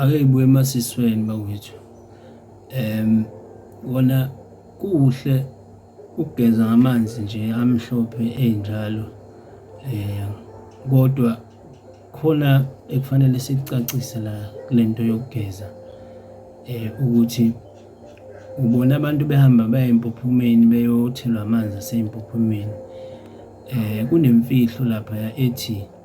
ake ibuye emasisweni bakwethu um kona kuhle ukugeza ngamanzi nje amhlophe enjalo um kodwa khona ekufanele sikucacise la kule nto yokugeza um ukuthi ubona abantu behamba baya empophomeni beyothelwa amanzi aseyimpophomeni um kunemfihlo laphaya ethi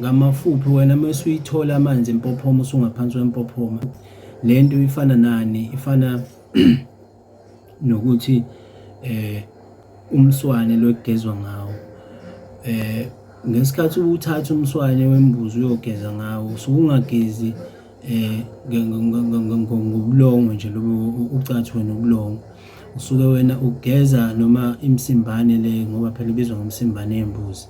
Ngamafuphi wena mese uyithola amanzi empophoma usungaphansi kwempophoma, le nto ifana nani? Ifana nokuthi umswane lo ekugezwa ngawo ngesikhathi uwuthatha umswane wembuzi uyogeza ngawo usuke ungagezi. ngobulongwe nje lobu ucathwe nobulongwe usuke wena ugeza noma imsimbane le ngoba phela ibizwa ngomsimbane yembuzi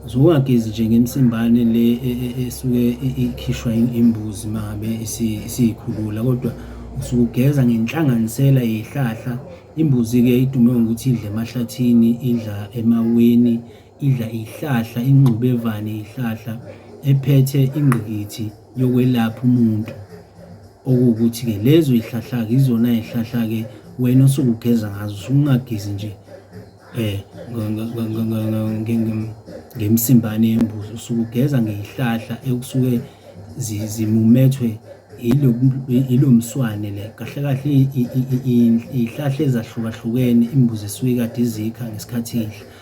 usuke ungagezi nje ngemsimbane le e, e, e, esuke ikhishwa imbuzi mabe isiyikhulula kodwa usuke ugeza ngenhlanganisela yehlahla imbuzi-ke idume ngokuthi idle emahlathini idla emaweni idla ihlahla ingxubevane ihlahla ephethe ingqikithi yokwelapha umuntu okuwukuthi-ke lezo ihlahla-ke izona ihlahla-ke wena osukugeza ngazo usungagezi nje eh ngemsimbane yembuzi usukugeza ngeyihlahla ekusuke zimumethwe yilo mswane le kahle kahle iyihlahla ezahlukahlukene imbuzi esuke kade izikha ngesikhathi idla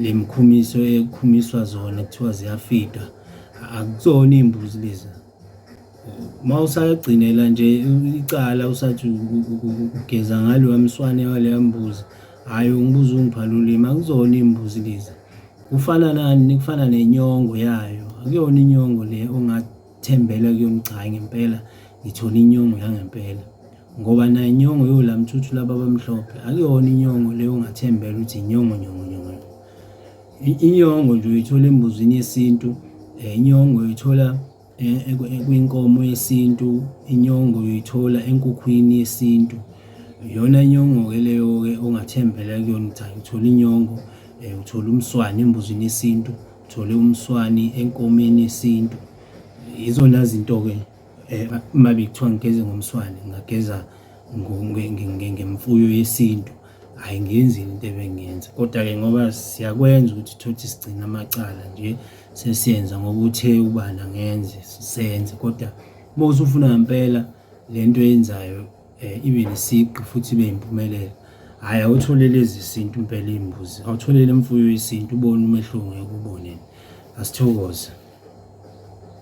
Le mkhumiso ekhumiswa zona kuthiwa ziyafida akuzona iy'mbuzi lezi uma usagcinela nje icala usathi ugeza ngaloya mswane waleya mbuzi hhayi ungibuza ungiphala ulimi akuzona iy'mbuzi lezi kufana nani kufana nenyongo yayo akuyona inyongo le ongathi Thembela kuyona cha ngempela ngithole inyongo yangempela ngoba nayo inyongo yolamthuthu laba abamhlophe akuyona inyongo leyo ongathembela ukuthi inyongo nyongo nyongo inyongo nje uyithola embuzini yesintu eh, inyongo uyithola eh, kwinkomo yesintu inyongo uyithola enkukhwini yesintu yona inyongo-ke leyo-ke ongathembela kuyona ukuthi ayithole inyongo um eh, uthole umswane embuzini yesintu Thole umswani enkomeni yesintu. Izona zinto-ke eh, uma bekuthiwa ngigeze ngomswane ngingageza ngemfuyo yesintu hhayi ngenzi into ebengiyenza kodwa-ke ngoba siyakwenza ukuthi thothi sigcine amacala nje sesiyenza ngoba uthe ubani angenze senze kodwa uma usufuna ngempela le nto eyenzayo um ibe nesigqi futhi ibe yimpumelelo. Hhayi awutholele ezesintu impela iy'mbuzi, awutholele imfuyo yesintu ubone umehluko ngeke ubone. Asithokoze.